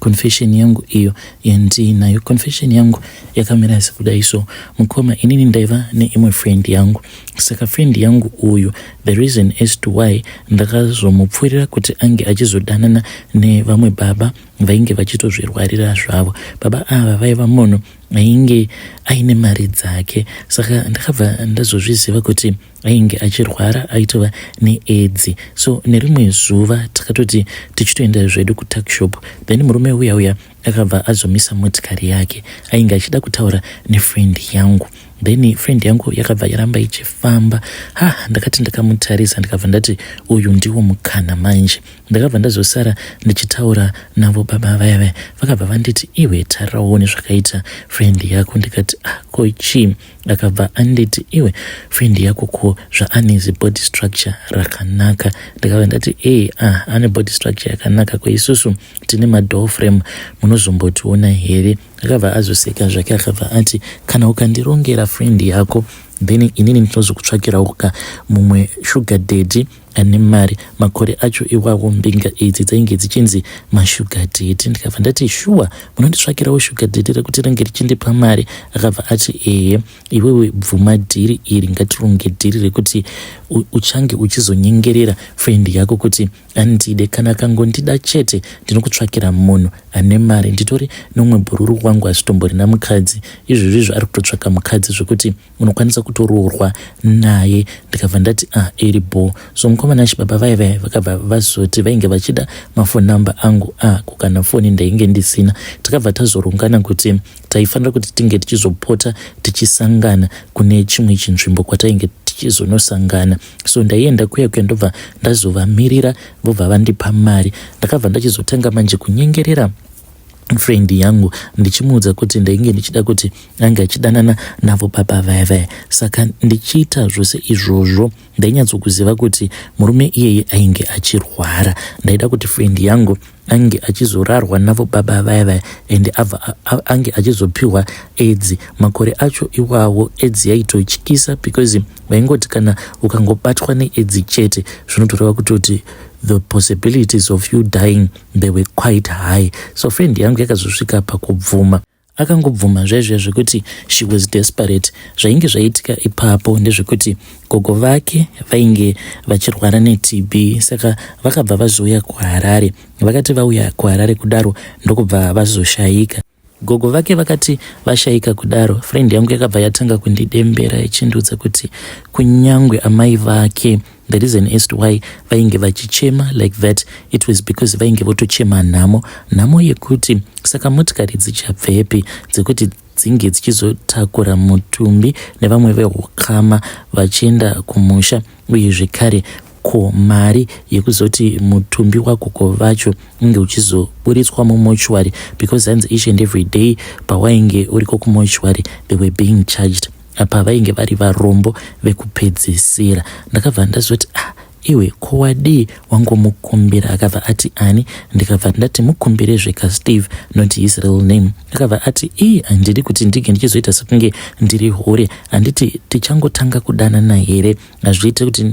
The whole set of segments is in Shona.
Confession yangu iyo yandinayo. Confession yangu yakamira sekudai so mukoma inini ndaiva neimwe friend yangu saka friend yangu uyu the reason as to why ndakazomupfuurira kuti ange achizodanana nevamwe baba vainge vachitozvirwarira zvavo baba ava vaiva munhu ainge aine mari dzake saka ndakabva ndazozviziva kuti ainge achirwara aitova needzi so nerimwe zuva takatoti tichitoenda zvedu kutakshop then murume uya uya akabva azomisa motikari yake ainge achida kutaura nefriend yangu then friend yangu yakabva yaramba ichifamba ha ndakati ndakamutarisa ndikabva ndati uyu ndiwo mukana manje ndakabva ndazosara ndichitaura navo baba vaya vaya vakabva vanditi iwe taraone zvakaita friend yako ndikati ah ko chii akabva anditi iwe friend yako ko zvaane zibody structure rakanaka ndikabva ndati ee ah ane body structure yakanaka ko isusu tine madoor frame munozombotiona here akabva azoseka zvake akabva ati kana ukandirongera friend yako then inini ndinozokutsvakirawo ka mumwe sugar daddy ane mari makore acho iwawo mbinga idzi dzainge dzichinzi mashuga deti ndikabva ndati shuwa munonditsvakirawo shuga deti rekuti ringe richindipa mari akabva ati ehe iwewe bvuma dhiri iri ngatironge dhiri rekuti uchange uchizonyengerera friend yako kuti andide kana akangondida chete ndinokutsvakira munhu ane mari nditori nomwe bhururu wangu asitomborina mukadzi izvozvizvo ari kutotsvaka mukadzi zvekuti unokwanisa kutoroorwa naye ndikabva ndati a ah, iri bho so mukomana chibaba vaye vaye vakabva vazoti vainge vachida mafoni number angu a ah, kukana foni ndainge ndisina takabva tazorungana kuti taifanira kuti tinge tichizopota tichisangana kune chimwe chinzvimbo kwatainge tichizonosangana so ndaienda kuya kuya ndobva ndazovamirira vobva vandipa mari ndakabva ndachizotanga manje kunyengerera friend yangu ndichimuudza kuti ndainge ndichida kuti ange achidanana navo baba vaya vaya saka ndichiita zvose izvozvo ndainyatsokuziva kuti murume iyeye ainge achirwara ndaida kuti friend yangu ange achizorarwa navo baba vaya vaya and abva ange achizopiwa edzi makore acho iwawo edzi yaitotyisa because vaingoti kana ukangobatwa needzi chete zvinotoreva kutoti the possibilities of you dying they were quite high so friend yangu yakazosvika pakubvuma Akangobvuma zvaizviya zvekuti she was desperate. Zvainge zvaitika ipapo ndezvekuti gogo vake vainge vachirwara neTB saka vakabva vazouya kuHarare. Vakati vauya kuHarare kudaro ndokubva vazoshaika. Gogo vake vakati vashaika kudaro, friend yangu yakabva yatanga kundidembera ichindiudza kuti kunyangwe amai vake The reason as to why vainge vachichema like that it was because vainge votochema nhamo nhamo yekuti saka motikari dzichabvepi dzekuti dzinge dzichizotakura mutumbi nevamwe vehukama vachienda kumusha uye zvekare ko mari yekuzoti mutumbi wagogo vacho unge uchizoburitswa mumochwari because hanzi each and every day pawainge uriko kumochwari they were being charged apa vainge vari varombo vekupedzisira ndakabva ndazoti ah iwe ko wadii wangomukumbira akabva ati ani ndikabva ndati mukumbire zveka steve not his real name akabva ati ii handidi kuti ndinge ndichizoita sekunge ndiri hure handiti tichangotanga kudanana here hazviite kuti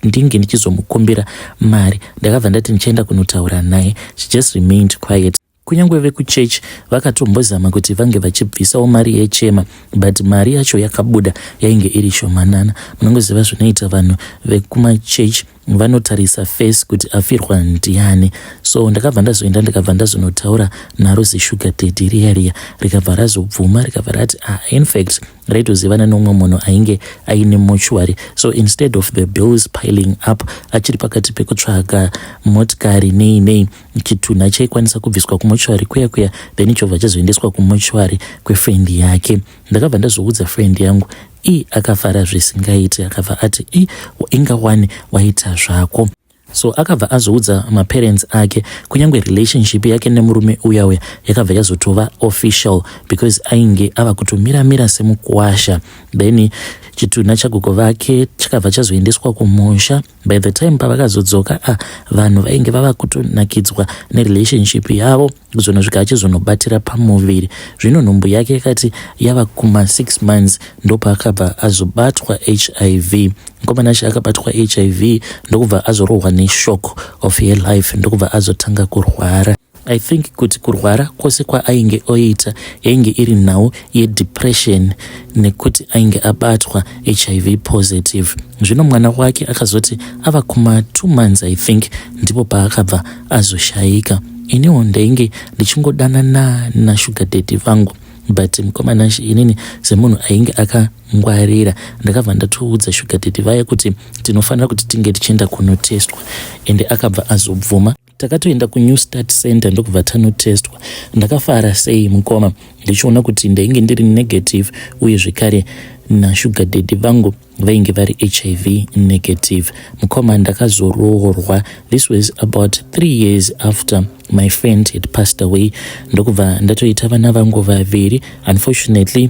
ndinge ndichizomukumbira mari ndakabva ndati ndichaenda kunotaura naye she just remained quiet Kunyangwe vekuchurch vakatombozama kuti vange vachibvisawo mari yechema but mari yacho yakabuda yainge iri shomanana. Munongoziva zvinoita vanhu vekumachurch vanotarisa face kuti afirwa ndiani. So ndakabva ndazoenda ndikabva ndazonotaura naro zishuga daddy riya riya rikabva razobvuma rikabva rati ah, in fact raitozivana nomwe munhu ainge aine mochuary so instead of the bills piling up achiri pakati pekutsvaga motikari nei nei chitunha chaikwanisa kubviswa kumochwari kuya kuya then chobva chazoendeswa kumochwari kwefriend yake ndakabva ndazviudza friend yangu i akafara zvisingaiti akabva ati i inga wani waita zvako so akabva azoudza maparents ake kunyange relationship yake nemurume uya uya yakabva yazotova official because ainge ava kutomira mira semukuwasha then chitunha chagogo vake chakabva chazoendeswa kumusha by the time pavakazodzoka a ah, vanhu vainge vava kutonakidzwa nerelationship yavo kuzonosvika achizonobatira pamuviri zvino nhumbu yake yakati yava kuma six months ndopaakabva azobatwa hiv mukomanashe akabatwa hiv ndokubva azorohwa neshok of her life ndokubva azotanga kurwara I think kuti kurwara kwose kwaainge oita yainge iri nhau yedepression nekuti ainge abatwa hiv positive zvino mwana wake akazoti ava kuma two months i think ndipo paakabva azoshayika iniwo ndainge ndichingodanana nashuga dady vangu but mukomana inini semunhu ainge akangwarira ndakabva ndatoudza shuga dady vaya kuti tinofanira kuti tinge tichienda kunotestwa ende akabva azobvuma takatoenda kunew start center ndokubva tanotestwa ndakafara sei mukoma ndichiona kuti ndainge ndiri negative uye zvekare nashuga dedi vangu vainge vari hiv negative mukoma ndakazoroorwa this was about three years after my friend had passed away ndokubva ndatoita vana vangu vaviri unfortunately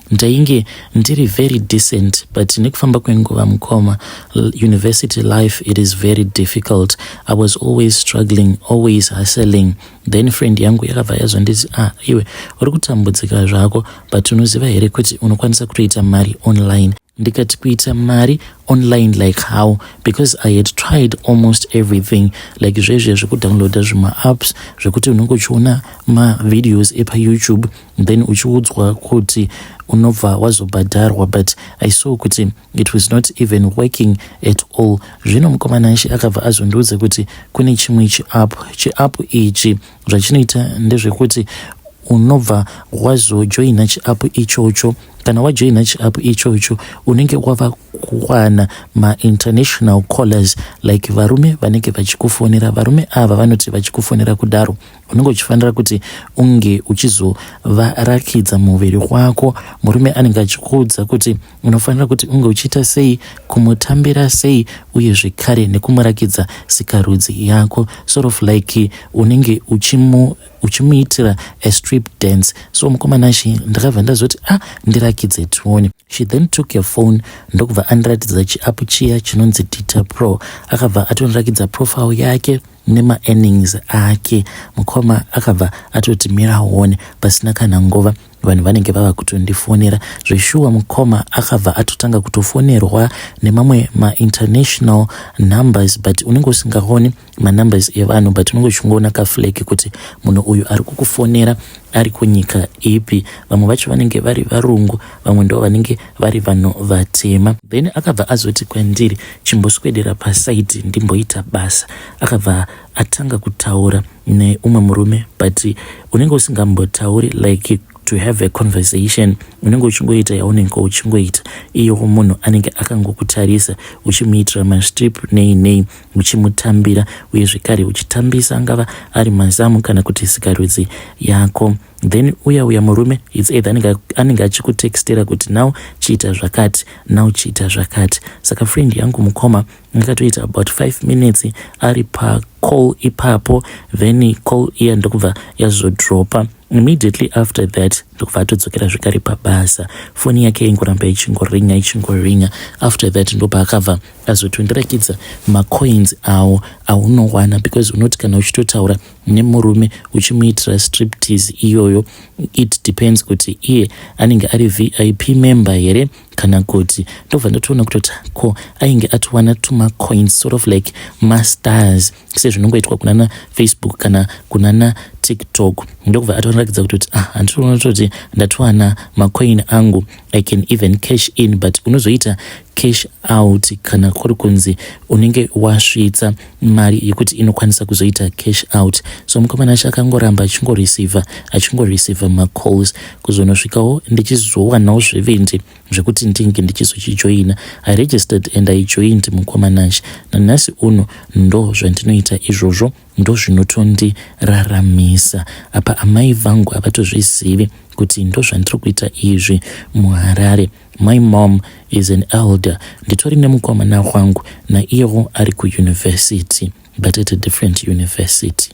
Ndainge ndiri very decent but nekufamba kwenguva mukoma university life it is very difficult i was always struggling always hustling then friend yangu yakabva yazonditi ah iwe uri kutambudzika zvako but unoziva here kuti unokwanisa kutoita mari online ndikati kuita mari online like how because i had tried almost everything like zvezviya zvekudownloada zvemaapps zvekuti unenge uchiona mavideos epayoutube then uchiudzwa kuti unobva wazobhadharwa but i saw kuti it was not even working at all zvino mukomana nshi akabva azondiudza kuti kune chimwe chiapp chiapp ichi zvachinoita ndezvekuti unobva wazojoina chiapp ichocho kana wajoina chiapp ichocho unenge wava kuwana mainternational callers like varume vanenge vachikufonera varume ava vanoti vachikufonera kudaro ah, unenge uchifanira kuti unge uchizovarakidza muviri wako murume anenge achikuudza kuti unofanira kuti unge uchiita sei kumutambira sei uye zvekare nekumurakidza sikarudzi yako sort of like unenge uchimu uchimuitira a strip dance so mukomana shi ndakabva ndazoti a ah, ndirakidze tione she then took your phone ndokubva andiratidza chiapu chiya chinonzi dita pro akabva atondirakidza profile yake nema earnings ake mukoma akabva atoti mira one pasina kana nguva vanhu vanenge vava kutondifonera zveshuwa mukoma akabva atotanga kutofonerwa nemamwe mainternational numbers but unenge usingaoni manumbers evanhu but unenge uchingoona kaflake kuti munhu uyu ari kukufonera ari kunyika ipi vamwe vacho vanenge vari varungu vamwe ndo vanenge vari vanhu vatema then akabva azoti kwandiri chimboswedera paside ndimboita basa akabva atanga kutaura neumwe murume but unenge usingambotauri like to have a conversation unenge uchingoita yaunenge uchingoita iyo munhu anenge akangokutarisa uchimuitira mastrip nei nei uchimutambira uye zvekare uchitambisa angava ari mazamu kana kuti sikarudzi yako then uya uya murume its either anenge achikutextera kuti now chiita zvakati now chiita zvakati saka friend yangu mukoma ngakatoita about 5 minutes ari pacall ipapo then call iya ndokubva yazodropa immediately after that ndokubva atodzokera zvekare pabasa foni yake ingoramba ichingoringa ichingoringa after that ndopa akabva azotondirakidza macoins awo aunowana because unoti kana uchitotaura nemurume uchimuitira striptease iyoyo it depends kuti iye anenge ari vip member here kana kuti ndobva ndotoona kutoti ko ainge atowana tumacoins sort of like mastars sezvinongoitwa kunana facebook kana kunana tiktok ndokubva atoratidza kutoti ah handitoona kutoti ndatowana macoin angu i can even cash in but unozoita cash out kana kuri kunzi unenge wasvitsa mari yekuti inokwanisa kuzoita cash out so mukomana acho akangoramba achingoreceiva achingoreceiva macalls kuzonosvikawo ndichizowanawo zvevendi zvekuti ndinge ndichizochijoina i registered and i joined mukomana acho nanhasi uno ndo zvandinoita izvozvo ndo zvinotondiraramisa apa amai vangu havatozvizivi kuti ndo zvandiri kuita izvi muharare My mom is an elder nditori nemukomana wangu naiyewo ari kuuniversity but at a different university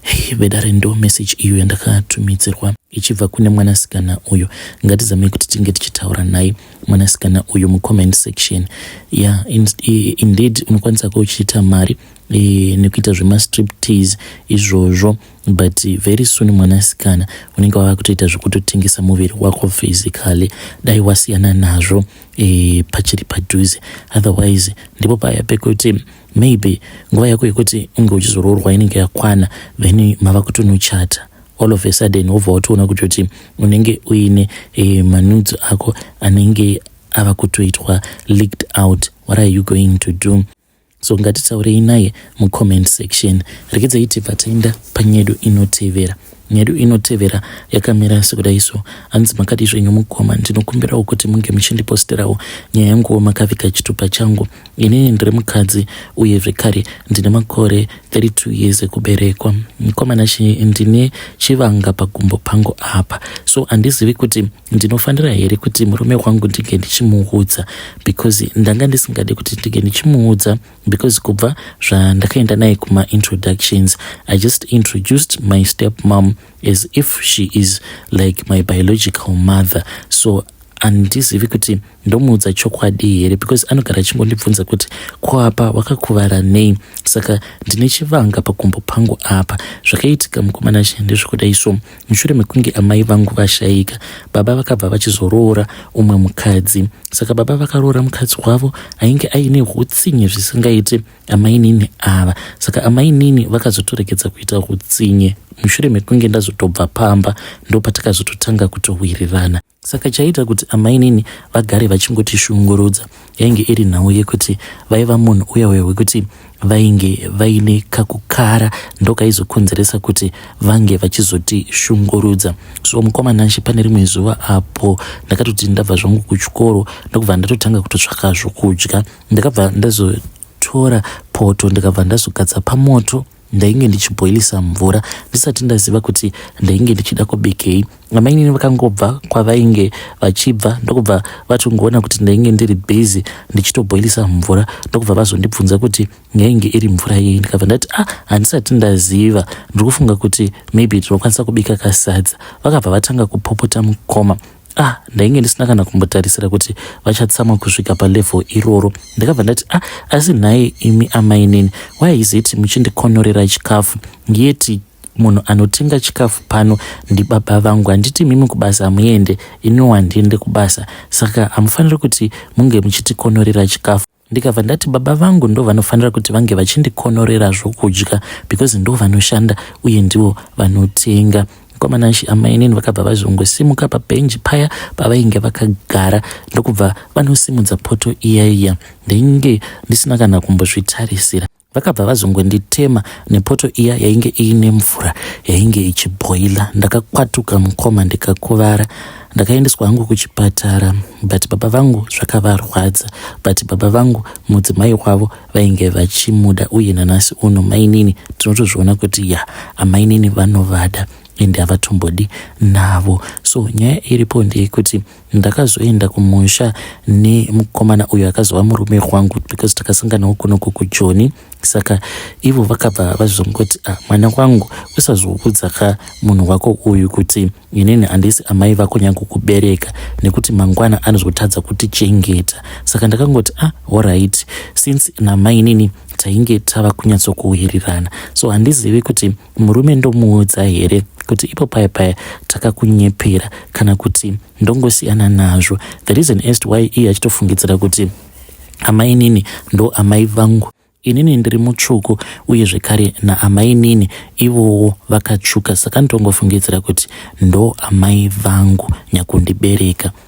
hey, vedare ndo message iyo yandakatumidzirwa ichibva kune mwanasikana uyu ngatizamei kuti tinge tichitaura naye mwanasikana uyu mucomment section ya yeah, in, indeed unokwanisa ko uchiita mari e, nekuita zvemastriptease izvozvo e, but very soon mwanasikana unenge wava kutoita zvekutotengesa muviri wako physically dai wasiyana nazvo e, pachiri padhuze otherwise ndipo paya pekuti maybe nguva yako yekuti unge uchizoroorwa inenge yakwana then mava kutonochata all of a sudden wobva watoona kuti kuti unenge uine e, manudzo ako anenge ava kutoitwa leaked out what are you going to do So ngatitaurei naye mucomment section. Rekedzayi tibva taenda panyedu inotevera. Nyedu inotevera yakamira sekudai so. Hanzi makadii zvenyu mukoma, ndinokumbirawo kuti munge muchindiposterawo nyaya yanguwo makaviga chitupa changu. Inini ndiri mukadzi uye zvekare ndine makore 32 years ekuberekwa. Mkomana Shiri ndine chivanga pagumbo pangu apa so handizivi kuti ndinofanira here kuti murume wangu ndinge ndichimuudza because ndanga ndisingadi kuti ndinge ndichimuudza because kubva zvandakaenda naye kumaintroductions i just introduced my step mom as if she is like my biological mother so andizivi kuti ndomuudza chokwadi here because anogara achingondibvunza kuti ko apa wakakuvara nei saka ndine chivanga pakumbo pangu apa zvakaitika mukomana she ndezvekuda iso mushure mekunge amai vangu vashaika baba vakabva vachizoroora umwe mukadzi saka baba vakaroora mukadzi wavo ainge aine utsinye zvisingaite amainini ava saka amainini vakazotoregedza kuita utsinye mushure mekunge ndazotobva pamba ndopatakazoto tanga kutowirirana Saka chaiita kuti amainini vagare vachingotishungurudza yainge iri nhau yekuti vaiva munhu uya uya wekuti vainge vaine kakukara ndokaizokonzeresa kuti vange vachizotishungurudza so mukoma nashe pane rimwe zuva apo ndakatoti ndabva zvangu kuchikoro ndokubva ndatotanga kutotsvaka zvokudya ndakabva ndazotora poto ndikabva ndazogadza pamoto ndainge ndichiboilisa mvura ndisati ndaziva kuti ndainge ndichida kubikei amainini vakangobva kwavainge vachibva ndokubva vatongoona kuti ndainge ndiri busy ndichitoboilisa mvura ndokubva vazondibvunza kuti yainge iri mvura yei ndikabva ndati ah handisati ndaziva ndiri kufunga kuti maybe tinokwanisa kubika kasadza vakabva vatanga kupopota mukoma ah ndainge ndisina kana kumbotarisira kuti vachatsamwa kusvika palevel iroro ndakabva ndati ah asi nhai imi amainini why is it muchindikonorera chikafu yeti munhu anotenga chikafu pano ndibaba vangu handiti mimi kubasa hamuende iniwo handiende kubasa saka hamufaniri kuti munge muchitikonorera chikafu ndikabva ndati baba vangu ndo vanofanira kuti vange vachindikonorera zvokudya because ndo vanoshanda uye ndivo vanotenga mukomana nshi amainini vakabva vazongosimuka pabhenji paya pavainge vakagara ndokubva vanosimudza poto iya iya ndainge ndisina kana kumbozvitarisira Vakabva vazongonditema nepoto iya yainge iine mvura yainge ichibhoila. Ndakakwatuka mukoma ndikakuvara. Ndakaendeswa hangu kuchipatara but baba vangu zvakavarwadza but baba vangu mudzimai wavo vainge vachimuda uye nanasi uno mainini tinotozviona kuti ya amainini vanovada ende havatombodi navo. So nyaya iripo ndeyekuti Ndakazoenda kumusha nemukomana uyo akazova murume wangu because takasanganawo kunoko kujoni saka ivo vakabva vazongoti ah, mwana wangu usazoudza ka munhu wako uyu kuti inini handisi amai vako nyange kubereka nekuti mangwana anozotadza kutichengeta saka ndakangoti ah, orit since namainini tainge tava kunyatsokuwirirana so handizivi kuti murume ndomuudza here kuti ipo paya paya takakunyepera kana kuti ndongosiyana nazvo the reason as to why iye achitofungidzira kuti amainini ndo amai vangu inini ndiri mutsvuku uye zvekare naamainini ivowo vakatsvuka saka ndongofungidzira kuti ndo amai vangu nyakundibereka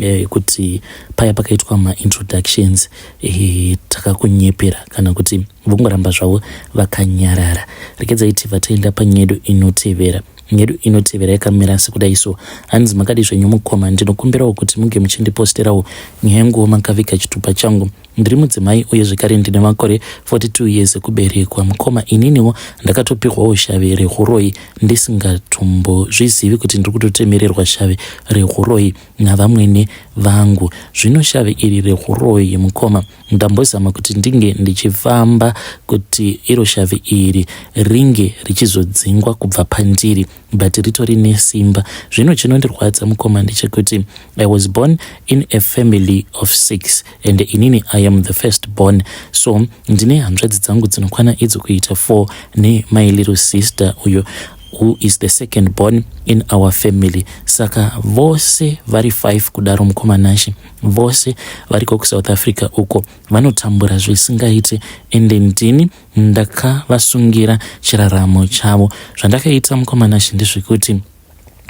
Eh, kuti paya pakaitwa maintroductions eh, takakunyepera kana kuti vongoramba zvavo vakanyarara rekedzai tibva taenda panyedu inotevera nyedu inotevera yakamira sekudai so hanzi makadi zvenyu mukoma ndinokumbirawo kuti muge muchindiposterawo nyaya yenguwo makaviga chitupa changu Ndiri mudzimai uye zvekare ndine makore 42 years ekuberekwa. Mukoma, ininiwo ndakatopihwawo shave rehuroyi ndisingatombozvizivi kuti ndiri kutotemererwa shave rehuroyi navamwene vangu. Zvino shave iri rehuroyi, mukoma, ndambozama kuti ndinge ndichifamba kuti iro shave iri ringe richizodzingwa kubva pandiri. but ritori nesimba zvino chinondirwadza mukoma ndechekuti i was born in a family of six and inini i am the first born so ndine hanzvadzi dzangu dzinokwana idzo kuita four nemai little sister uyo who is the second born in our family saka vose vari five kudaro mukoma nashe vose variko kusouth africa uko vanotambura zvisingaite ende ndini ndakavasungira chiraramo chavo. Zvandakaita mukoma Nashe ndezvekuti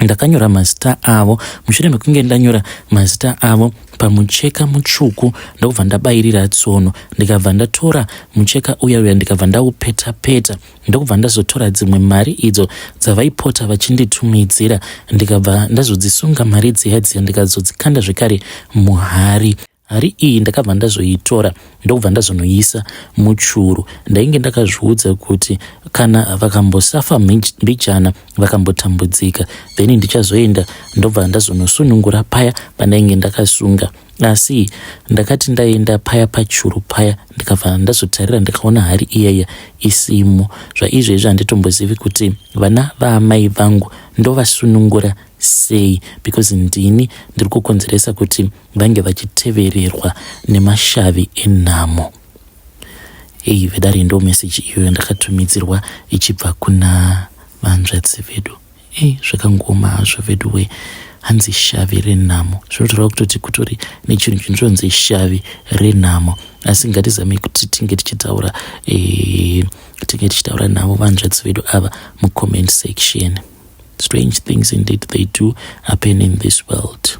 ndakanyora mazita avo mushure mekunge ndanyora mazita avo pamucheka mutsvuku ndokubva ndabayirira tsono ndikabva ndatora mucheka uya uya ndikabva ndaupeta peta ndokubva ndazotora dzimwe mari idzo dzavaipota vachinditumidzira ndikabva ndazodzisunga mari dziya dziya ndikazodzikanda zvekare muhari Hari iyi ndakabva ndazoitora ndokubva ndazonoisa muchuru. Ndainge ndakazviudza kuti kana vakambosafa mbijana vakambotambudzika then ndichazoenda ndobva ndazonosunungura paya pandainge ndakasunga asi ndakati ndaenda paya pachuru paya ndikabva ndazotarira ndikaona hari iyaya isimo zvaizvezvi handitombozivi kuti vana vaamai vangu ndovasunungura sei because ndini ndiri kukonzeresa kuti vange vachitevererwa nemashavi enhamo ei vedare ndo meseji iyoyo ndakatumidzirwa ichibva kuna vanzvadzi vedu ei zvakangoma hazvo vedu wee hanzi shavi renhamo zvinotoreva kutoti kutori nechinhu chinozonzi shavi renhamo asi ngatizame kuti tinge tichitaura eh, tinge tichitaura navo vanzvadzi vedu ava mucomment section strange things indeed they do happen in this world